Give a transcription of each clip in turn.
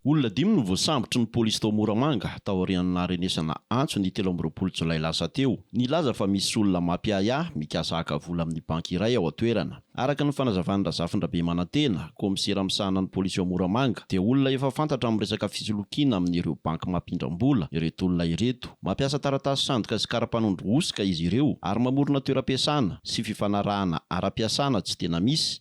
Olona dimy no voasambotry ny polisy tao Moramanga, taorian'ny naharenesana antso ny telo amby roapolo jolay lasa teo, nilaza fa misy olona mampiahiahy mikasa haka vola amin'ny banky iray ao an-toerana. Araka ny fanazavan'i Razafindrabemanantena, kaomisera misahana ny polisy ao Moramanga, dia olona efa fantatra amin'ny resaka fisolokiana amin'ireo banky mampindram-bola ireto olona ireto. Mampiasa taratasy sandoka sy karapanondro hosoka izy ireo ary mamorona toeram-piasana sy fifanarahana ara-piasana tsy tena misy.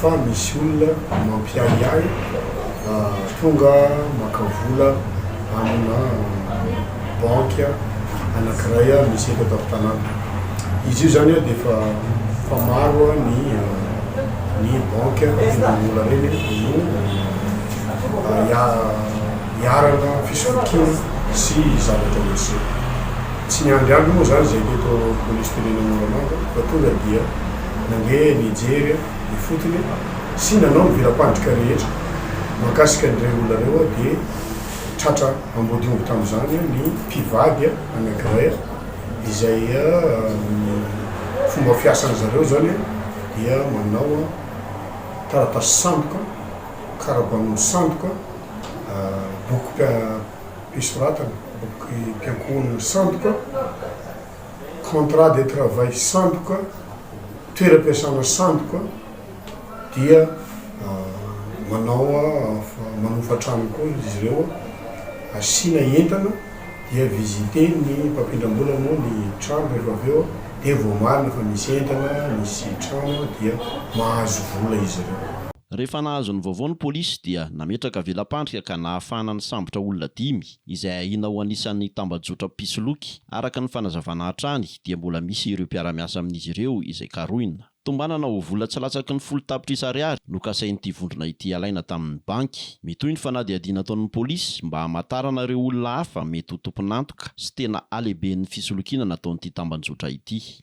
fa misy olona mampiahiahy tonga maka vola amina banky anankiray misy eto an-tampon-tanàna. Izy io zany dia efa efa maro ny ny banky ampidin'ny vola ireny no iharana fisolokiana sy zavatra ohatr'izay. Tsy niandry andry moa zany zay teto Polisim-pirenena Moramanga fa tonga dia. Nandeha nijery aho ifotony sy nanao ny vela-pandrika rehetra mahakasika an'ireo olona ireo aho dia tratra ambodiomby tamin'izany ny mpivady anankiray izay ny fomba fiasan-dry zareo izany dia manao taratasy sandoka, kara-banomby sandoka, bokim-pisoratana, bokim-piankohonana sandoka. contrat de travail sandoka, toeram-piasana sandoka, dia manao manofa trano koa izy ireo, asiana entana dia visiter-ny mpampindram-bola moa ny trano rehefa avy eo dia vao marina fa misy entana, misy trano dia mahazo vola izy ireo. Rehefa nahazo ny vaovao ny polisy dia nametraka vela-pandrika ka nahafahana nisambotra olona dimy. izay ahiana ho anisan'ny tambajotram-pisoloky. Araka ny fanazavana hatrany dia mbola misy ireo mpiara-miasa amin'izy ireo izay karohina. Tombanana ho vola tsy latsaky ny folo tapitrisa ariary no kasain'ity vondrona ity alaina tamin'ny banky. Mitohy ny fanadihadiana ataon'ny polisy mba hamantarana ireo olona hafa mety ho tompon'antoka sy tena halehiben'ny fisolokiana nataon'ity tambanjotra ity.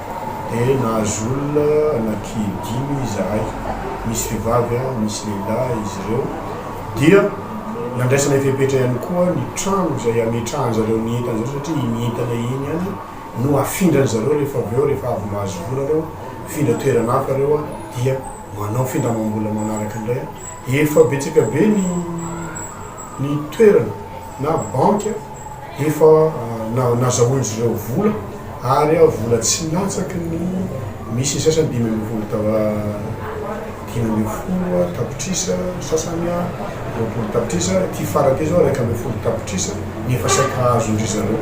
dia nahazo olona anaky dimy izahay, misy vehivavy, misy lehilahy izy ireo, dia nandraisana ny fepetra ihany koa ny trano izay hametrahan-dry zareo ny entana-dry zareo satria iny entana iny ihany no hafindran-dry zareo rehefa avy eo, rehefa avy mahazo vola ireo, mifindra toerana hafa ireo dia manao findramam-bola manaraka indray, efa betsaka be ny ny toerana. na banky efa nazahoan'izy ireo vola ary vola tsy latsaky ny misy ny sasany dimy ambin'ny folo dimy ambin'ny folo tapitrisa, ny sasany roapolo tapitrisa, ity farany ity izao iraika ambin'ny folo tapitrisa ny efa saika azon-dry zareo.